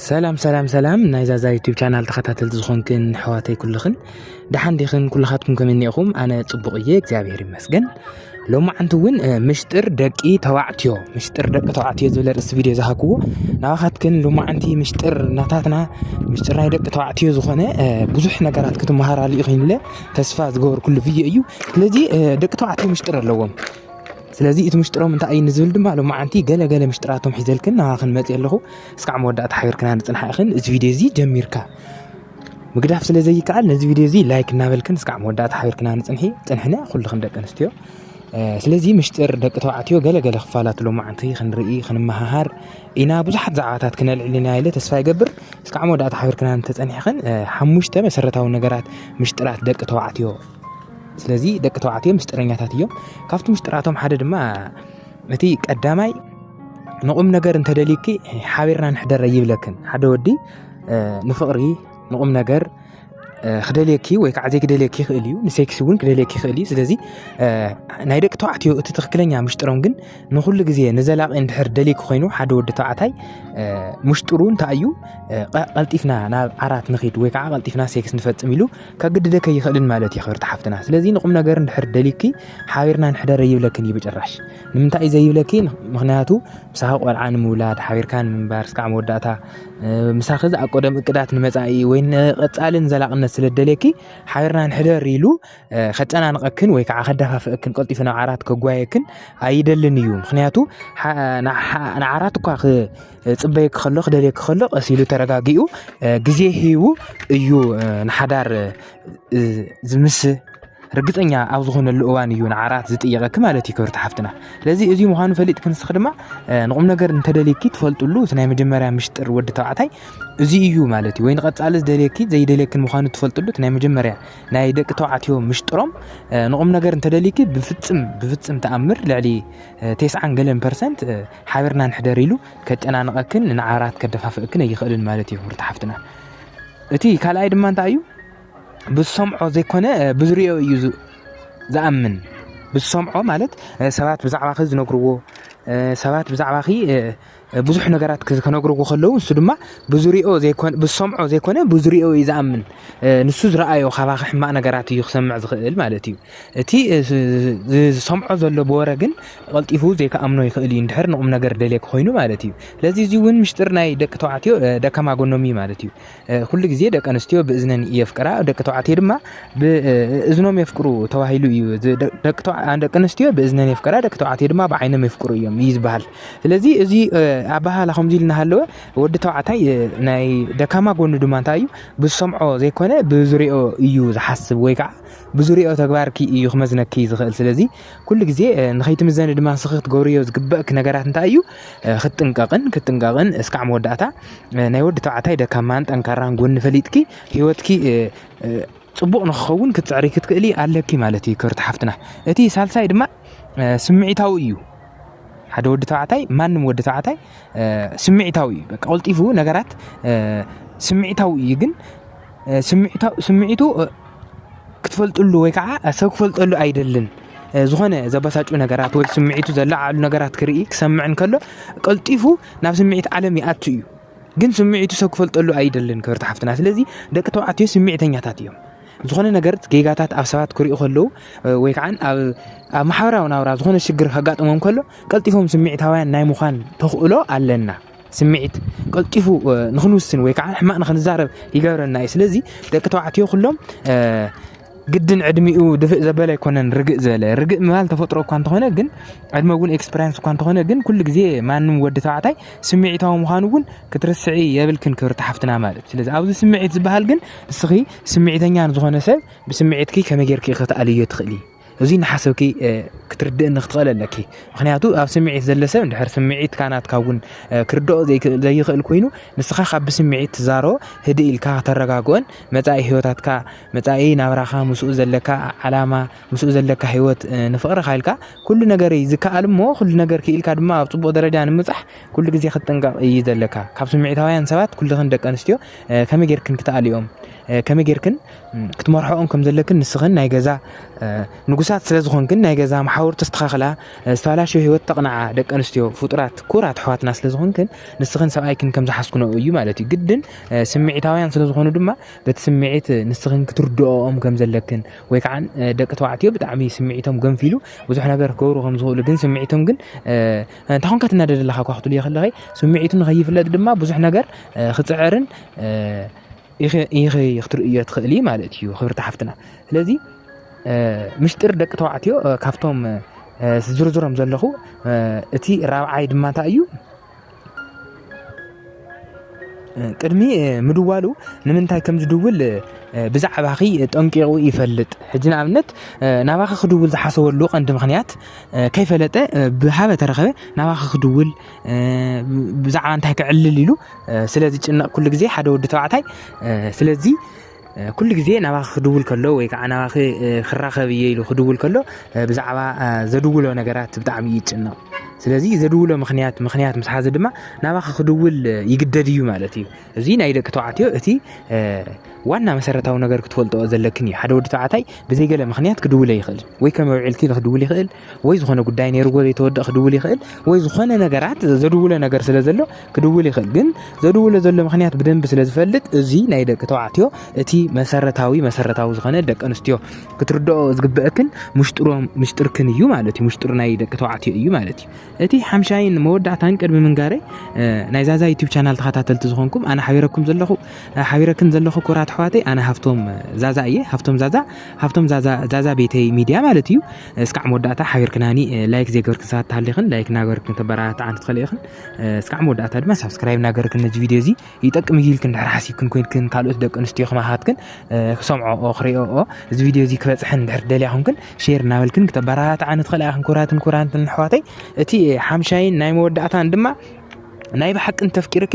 ሰላም ሰላም ሰላም ናይ ዛዛ ዩቱብ ቻናል ተኸታተልቲ ዝኾንክን ኣሕዋተይ ኩልኽን ደሓን ዲኽን ኩልኻትኩም ከመይ እኒኢኹም ኣነ ፅቡቕ እየ እግዚኣብሔር ይመስገን ሎሚ ዓንቲ እውን ምሽጥር ደቂ ተባዕትዮ ምሽጥር ደቂ ተባዕትዮ ዝብል ርእሲ ቪድዮ ዝሃክዎ ናባኻትክን ሎሚ ዓንቲ ምሽጥር ናታትና ምሽጥር ናይ ደቂ ተባዕትዮ ዝኾነ ብዙሕ ነገራት ክትመሃራሉ ኢኹም ኢለ ተስፋ ዝገበርኩሉ ቪድዮ እዩ ስለዚ ደቂ ተባዕትዮ ምሽጥር ኣለዎም ስለዚ እቲ ምሽጥሮም እንታይ እዩ ንዝብል ድማ ሎማዓንቲ ገለ ገለ ምሽጥራቶም ሒዘልክን ናባኽን መፅ ኣለኹ እስካዕ መወዳእታ ሓቢርክና ንፅንሓ ኢኽን እዚ ቪድዮ እዚ ጀሚርካ ምግዳፍ ስለ ዘይከኣል ነዚ ቪድዮ እዚ ላይክ እናበልክን እስካዕ መወዳእታ ሓቢርክና ንፅንሒ ፅንሕነ ኩልኽን ደቂ ኣንስትዮ ስለዚ ምሽጥር ደቂ ተባዕትዮ ገለ ገለ ክፋላት ሎማዓንቲ ክንርኢ ክንመሃሃር ኢና ብዙሓት ዛዕባታት ክነልዕልና ኢለ ተስፋ ይገብር እስካዕ መወዳእታ ሓቢርክና እንተፀኒሕኽን ሓሙሽተ መሰረታዊ ነገራት ምሽጥራት ደቂ ተባዕትዮ ስለዚ ደቂ ተባዕትዮ ምስጢረኛታት እዮም ካብቲ ምስጢራቶም ሓደ ድማ እቲ ቀዳማይ ንቑም ነገር እንተደልዩኪ ሓቢርና ንሕደረ ይብለክን ሓደ ወዲ ንፍቕሪ ንቑም ነገር ክደልየኪ ወይ ከዓ ዘይክደልየኪ ይኽእል እዩ ንሴክሲ እውን ክደልየኪ ይኽእል እዩ ስለዚ ናይ ደቂ ተባዕትዮ እቲ ትክክለኛ ምሽጥሮም ግን ንኩሉ ግዜ ንዘላቂ እንድሕር ደልይኪ ኮይኑ ሓደ ወዲ ተባዕታይ ምሽጥሩ እንታይ እዩ ቀልጢፍና ናብ ዓራት ንኽድ ወይ ከዓ ቀልጢፍና ሴክስ ንፈፅም ኢሉ ከግድደኪ ኣይኽእልን ማለት እዩ ክብርቲ ሓፍትና ስለዚ ንቁም ነገር እንድሕር ደሊኪ ሓቢርና ንሕደር ኣይብለክን እዩ ብጭራሽ ንምንታይ እዩ ዘይብለኪ ምክንያቱ ምሳኺ ቆልዓ ንምውላድ ሓቢርካ ንምንባር ስካዕ መወዳእታ ምሳኺ ዝኣቆደም እቅዳት ንመፃኢ ወይ ንቐፃልን ዘላቕነት ስለ ደልየኪ ሓቢርና ንሕደር ኢሉ ከጨናንቐክን ወይ ከዓ ከደፋፍእክን ቀልጢፉ ናብ ዓራት ከጓየክን ኣይደልን እዩ ምክንያቱ ንዓራት እኳ ክፅበየኪ ከሎ ክደልየኪ ከሎ ቀስ ኢሉ ተረጋጊኡ ግዜ ሂቡ እዩ ንሓዳር ዝምስ ርግፀኛ ኣብ ዝኾነሉ እዋን እዩ ንዓራት ዝጥየቀኪ ማለት እዩ ክብርቲ ሓፍትና ስለዚ እዚ ምዃኑ ፈሊጥ ክንስኺ ድማ ንቁም ነገር እንተደልኪ ትፈልጥሉ እቲ ናይ መጀመርያ ምሽጥር ወዲ ተባዕታይ እዚ እዩ ማለት እዩ ወይ ንቐፃሊ ዝደልየኪ ዘይደልየክን ምዃኑ ትፈልጥሉ እቲ ናይ መጀመርያ ናይ ደቂ ተባዕትዮ ምሽጥሮም ንቁም ነገር እንተደልኪ ብፍፅም ብፍፅም ተኣምር ልዕሊ ቴስዓን ገለን ፐርሰንት ሓቢርና ንሕደር ኢሉ ከጨናንቐክን ንዓራት ከደፋፍእክን ኣይኽእልን ማለት እዩ ሩታ ሓፍትና እቲ ካልኣይ ድማ እንታይ እዩ ብዝሰምዖ ዘይኮነ ብዝሪኦ እዩ ዝኣምን ብዝሰምዖ ማለት ሰባት ብዛዕባኺ ዝነግርዎ ሰባት ብዛዕባኺ ብዙሕ ነገራት ክነግርዎ ከለዉ ንሱ ድማ ብዝሪኦ ዘይኮነ ብዝሰምዖ ዘይኮነ ብዝሪኦ እዩ ዝኣምን ንሱ ዝረኣዮ ካባኺ ሕማቕ ነገራት እዩ ክሰምዕ ዝኽእል ማለት እዩ እቲ ዝሰምዖ ዘሎ ብወረ ግን ቀልጢፉ ዘይክኣምኖ ይኽእል እዩ እንድሕር ንቑም ነገር ደልየኪ ኮይኑ ማለት እዩ ስለዚ እዚ እውን ምሽጢር ናይ ደቂ ተባዕትዮ ደካማ ጎኖም እዩ ማለት እዩ ኩሉ ግዜ ደቂ ኣንስትዮ ብእዝነን የፍቅራ ደቂ ተባዕትዮ ድማ ብእዝኖም የፍቅሩ ተባሂሉ እዩ ደቂ ኣንስትዮ ብእዝነን የፍቅራ ደቂ ተባዕትዮ ድማ ብዓይኖም የፍቅሩ እዮም እዩ ዝበሃል ስለዚ እዚ ኣባሃላ ከምዚ ኢል እናሃለወ ወዲ ተባዕታይ ናይ ደካማ ጎኑ ድማ እንታይ እዩ ብዝሰምዖ ዘይኮነ ብዙሪኦ እዩ ዝሓስብ ወይ ከዓ ብዙሪኦ ተግባርኪ እዩ ክመዝነኪ ዝኽእል ስለዚ ኩሉ ግዜ ንኸይትምዘኒ ድማ ንስኺ ክትገብርዮ ዝግበእኪ ነገራት እንታይ እዩ? ክትጥንቀቕን ክትጥንቀቕን እስካዕ መወዳእታ ናይ ወዲ ተባዕታይ ደካማን ጠንካራን ጎኒ ፈሊጥኪ ህይወትኪ ፅቡቕ ንክኸውን ክትፅዕሪ ክትክእሊ ኣለኪ ማለት እዩ ክብርቲ ሓፍትና። እቲ ሳልሳይ ድማ ስምዒታዊ እዩ። ሓደ ወዲ ተባዕታይ ማንም ወዲ ተባዕታይ ስምዒታዊ እዩ። በቃ ቀልጢፉ ነገራት ስምዒታዊ እዩ ግን ስምዒቱ ክትፈልጥሉ ወይ ከዓ ሰብ ክፈልጠሉ ኣይደልን ዝኾነ ዘበሳጩ ነገራት ወይ ስምዒቱ ዘለዓዕሉ ነገራት ክርኢ ክሰምዕ እንከሎ ቀልጢፉ ናብ ስምዒት ዓለም ይኣቱ እዩ ግን ስምዒቱ ሰብ ክፈልጠሉ ኣይደልን ክብርቲ ሓፍትና ስለዚ ደቂ ተባዕትዮ ስምዒተኛታት እዮም ዝኾነ ነገር ጌጋታት ኣብ ሰባት ክሪኡ ከለዉ ወይ ከዓ ኣብ ማሕበራዊ ናብራ ዝኾነ ሽግር ከጋጥሞም ከሎ ቀልጢፎም ስምዒታውያን ናይ ምዃን ተኽእሎ ኣለና ስምዒት ቀልጢፉ ንክንውስን ወይ ከዓ ሕማቅ ንክንዛረብ ይገብረና እዩ ስለዚ ደቂ ተባዕትዮ ኩሎም ግድን ዕድሚኡ ድፍእ ዘበለ ኣይኮነን ርግእ ዝበለ ርግእ ምባል ተፈጥሮ እኳ እንተኾነ ግን ዕድመ እውን ኤክስፐሪንስ እኳ እንተኾነ ግን ኩሉ ግዜ ማንም ወዲ ተባዕታይ ስምዒታዊ ምዃኑ እውን ክትርስዒ የብልክን ክብርቲ ሓፍትና ማለት ስለዚ ኣብዚ ስምዒት ዝበሃል ግን ንስኺ ስምዒተኛ ንዝኾነ ሰብ ብስምዒትኪ ከመይ ጌርኪ ክትኣልዮ ትኽእሊ እዚ እናሓሰብኪ ክትርድእኒ ክትኽእል ኣለኪ ምክንያቱ ኣብ ስምዒት ዘሎ ሰብ እንድሕር ስምዒትካ ናትካ እውን ክርድኦ ዘይክእል ኮይኑ ንስኻ ካብ ብስምዒት ትዛሮ ህድእ ኢልካ ከተረጋግኦን መፃኢ ህይወታትካ መፃኢ ናብራኻ ምስኡ ዘለካ ዓላማ ምስኡ ዘለካ ህይወት ንፍቕርካ ኢልካ ኩሉ ነገር እዩ ዝከኣል እሞ ኩሉ ነገር ክኢልካ ድማ ኣብ ፅቡቕ ደረጃ ንምብፃሕ ኩሉ ግዜ ክትጥንቀቕ እዩ ዘለካ ካብ ስምዒታውያን ሰባት ኩልኽን ደቂ ኣንስትዮ ከመይ ጌርክን ክትኣልኦም ከመይ ጌርክን ክትመርሕኦም ከም ዘለክን ንስኽን ናይ ገዛ ንጉሳት ስለ ዝኾንክን ናይ ገዛ መሓውር ተስተኻኽላ ዝተበላሸወ ህይወት ተቕንዓ ደቂ ኣንስትዮ ፍጡራት ኩራት ኣሕዋትና ስለ ዝኾንክን ንስኽን ሰብኣይክን ከም ዝሓስኩነኡ እዩ ማለት እዩ ግድን ስምዒታውያን ስለ ዝኾኑ ድማ በቲ ስምዒት ንስኽን ክትርድኦም ከም ዘለክን ወይ ከዓ ደቂ ተባዕትዮ ብጣዕሚ ስምዒቶም ገንፊሉ ብዙሕ ነገር ክገብሩ ከም ዝኽእሉ ግን ስምዒቶም ግን እንታይ ኮንካ ትናደድ ኣለኻ እኳ ክትብልዮ ከለኺ ስምዒቱ ንኸይፍለጥ ድማ ብዙሕ ነገር ክፅዕርን ኢኺ ክትርእዮ ትኽእሊ ማለት እዩ ክብርቲ ሓፍትና ስለዚ ምሽጢር ደቂ ተባዕትዮ ካብቶም ዝርዝሮም ዘለኹ እቲ ራብዓይ ድማ እንታይ እዩ ቅድሚ ምድዋሉ ንምንታይ ከም ዝድውል ብዛዕባኺ ጠንቂቑ ይፈልጥ ሕጂ ንኣብነት ናባኺ ክድውል ዝሓሰበሉ ቀንዲ ምክንያት ከይፈለጠ ብሃበ ተረኸበ ናባኺ ክድውል ብዛዕባ እንታይ ክዕልል ኢሉ ስለ ዝጭነቕ ኩሉ ግዜ ሓደ ወዲ ተባዕታይ ስለዚ ኩሉ ግዜ ናባኺ ክድውል ከሎ ወይ ከዓ ናባኺ ክራኸብ እየ ኢሉ ክድውል ከሎ ብዛዕባ ዘድውሎ ነገራት ብጣዕሚ እዩ ይጭነቕ ስለዚ ዘድውሎ ምክንያት ምክንያት ምስ ሓዘ ድማ ናባኺ ክድውል ይግደድ እዩ ማለት እዩ እዚ ናይ ደቂ ተባዕትዮ እቲ ዋና መሰረታዊ ነገር ክትፈልጦ ዘለክን እዩ ሓደ ወዲ ተባዕታይ ብዘይገለ ምክንያት ክድውለ ይኽእል ወይ ከም ኣውዒልኪ ክድውል ይኽእል ወይ ዝኾነ ጉዳይ ነይርዎ ዘይተወድእ ክድውል ይኽእል ወይ ዝኾነ ነገራት ዘድውሎ ነገር ስለ ዘሎ ክድውል ይኽእል ግን ዘድውሎ ዘሎ ምክንያት ብደንቢ ስለ ዝፈልጥ እዚ ናይ ደቂ ተባዕትዮ እቲ መሰረታዊ መሰረታዊ ዝኾነ ደቂ ኣንስትዮ ክትርድኦ ዝግበአክን ምሽጥሮም ምሽጥርክን እዩ ማለት እዩ ምሽጥር ናይ ደቂ ተባዕትዮ እዩ ማለት እዩ እቲ ሓምሻይን መወዳእታን ቅድሚ ምንጋረይ ናይ ዛዛ ዩቲብ ቻናል ተኸታተልቲ ዝኾንኩም ኣነ ሓቢረኩም ዘለኹ ሓቢረክን ዘለኹ ኩራት ኣሕዋተይ ኣነ ሃፍቶም ዛዛ እየ ሃፍቶም ዛዛ ሃፍቶም ዛዛ ቤተይ ሚድያ ማለት እዩ እስካዕ መወዳእታ ሓቢርክናኒ ላይክ ዘይገበርክን ሰባት ተሃሊኽን ላይክ እናገበርክን ተበረታትዓኒ ትኽእሊ ኢኽን እስካዕ መወዳእታ ድማ ሳብስክራይብ እናገበርክን ነዚ ቪድዮ እዚ ይጠቅም እዩ ኢልክን ድሕር ሓሲብክን ኮይንክን ካልኦት ደቂ ኣንስትዮ ከማኻትክን ክሰምዖኦ ክሪኦኦ እዚ ቪድዮ እዚ ክበፅሐን ድሕር ደልያ ኩንክን ሼር እናበልክን ክተበረታትዓኒ ትኽእላ ኢኽን ኩራትን ኩራንትን ኣሕዋተይ እቲ ሓምሻይን ናይ መወዳእታን ድማ ናይ ብሓቂ እንተፍቂርኪ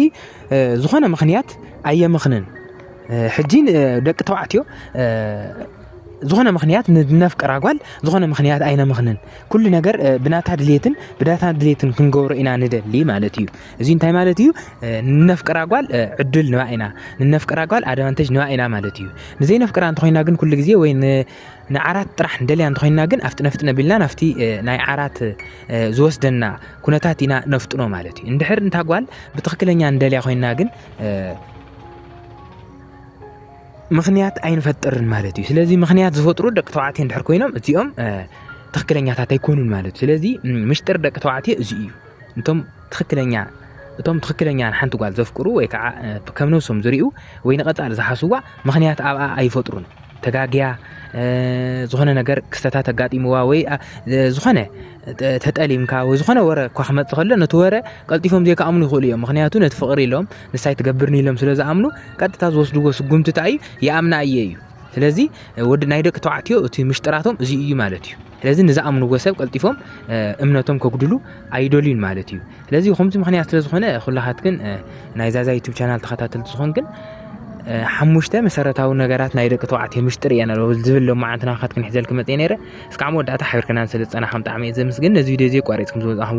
ዝኾነ ምኽንያት ኣየምኽንን ሕጂ ደቂ ተባዕትዮ ዝኾነ ምኽንያት ንነፍቅራ ጓል ዝኾነ ምኽንያት ኣይነምኽንን ኩሉ ነገር ብናታ ድሌትን ብዳታ ድሌትን ክንገብሮ ኢና ንደሊ ማለት እዩ እዚ እንታይ ማለት እዩ ንነፍቅራ ጓል ዕድል ንባ ኢና ንነፍቅራ ጓል ኣድቫንቴጅ ንባ ኢና ማለት እዩ ንዘይነፍቅራ እንተኮይና ግን ኩሉ ግዜ ወይ ንዓራት ጥራሕ ንደልያ እንተኮይና ግን ኣብቲ ነፍጥነ ቢልና ናብቲ ናይ ዓራት ዝወስደና ኩነታት ኢና ነፍጥኖ ማለት እዩ እንድሕር እንታ ጓል ብትኽክለኛ ንደልያ ኮይና ግን ምኽንያት ኣይንፈጥርን ማለት እዩ ስለዚ ምኽንያት ዝፈጥሩ ደቂ ተባዕትዮ እንድሕር ኮይኖም እዚኦም ትኽክለኛታት ኣይኮኑን ማለት እዩ ስለዚ ምሽጥር ደቂ ተባዕትዮ እዚ እዩ እቶም ትኽክለኛ እቶም ትኽክለኛ ንሓንቲ ጓል ዘፍቅሩ ወይ ከዓ ከም ነብሶም ዝርዩ ወይ ንቐፃሊ ዝሓስዋ ምኽንያት ኣብኣ ኣይፈጥሩን ተጋግያ ዝኾነ ነገር ክስተታት ኣጋጢምዋ ወይ ዝኾነ ተጠሊምካ ወይ ዝኾነ ወረ እኳ ክመፅእ ከሎ ነቲ ወረ ቀልጢፎም ዘይከኣምኑ ይኽእሉ እዮም ምክንያቱ ነቲ ፍቕሪ ኢሎም ንሳ ኣይትገብርን ኢሎም ስለ ዝኣምኑ ቀጥታ ዝወስድዎ ስጉምቲ እንታይ እዩ ይኣምና እየ እዩ ስለዚ ወዲ ናይ ደቂ ተባዕትዮ እቲ ምሽጥራቶም እዚ እዩ ማለት እዩ ስለዚ ንዝኣምንዎ ሰብ ቀልጢፎም እምነቶም ከጉድሉ ኣይደልዩን ማለት እዩ ስለዚ ከምዚ ምክንያት ስለ ዝኾነ ኩላኻትክን ናይ ዛዛ ዩቱብ ቻናል ተኸታተልቲ ዝኾንክን ሓሙሽተ መሰረታዊ ነገራት ናይ ደቂ ተባዕትዮ ምሽጥር እየን ኣለዎ ዝብል ሎማዓንቲ ናኻትክን ሕዘልክ መፀ ነረ እስካዕ መወዳእታ ሓቢርክናን ስለ ዝፀናኸም ጣዕሚ እየ ዘምስግን ነዚ ቪድዮ እዚ ቋሪፅኩም ዝወፃኹም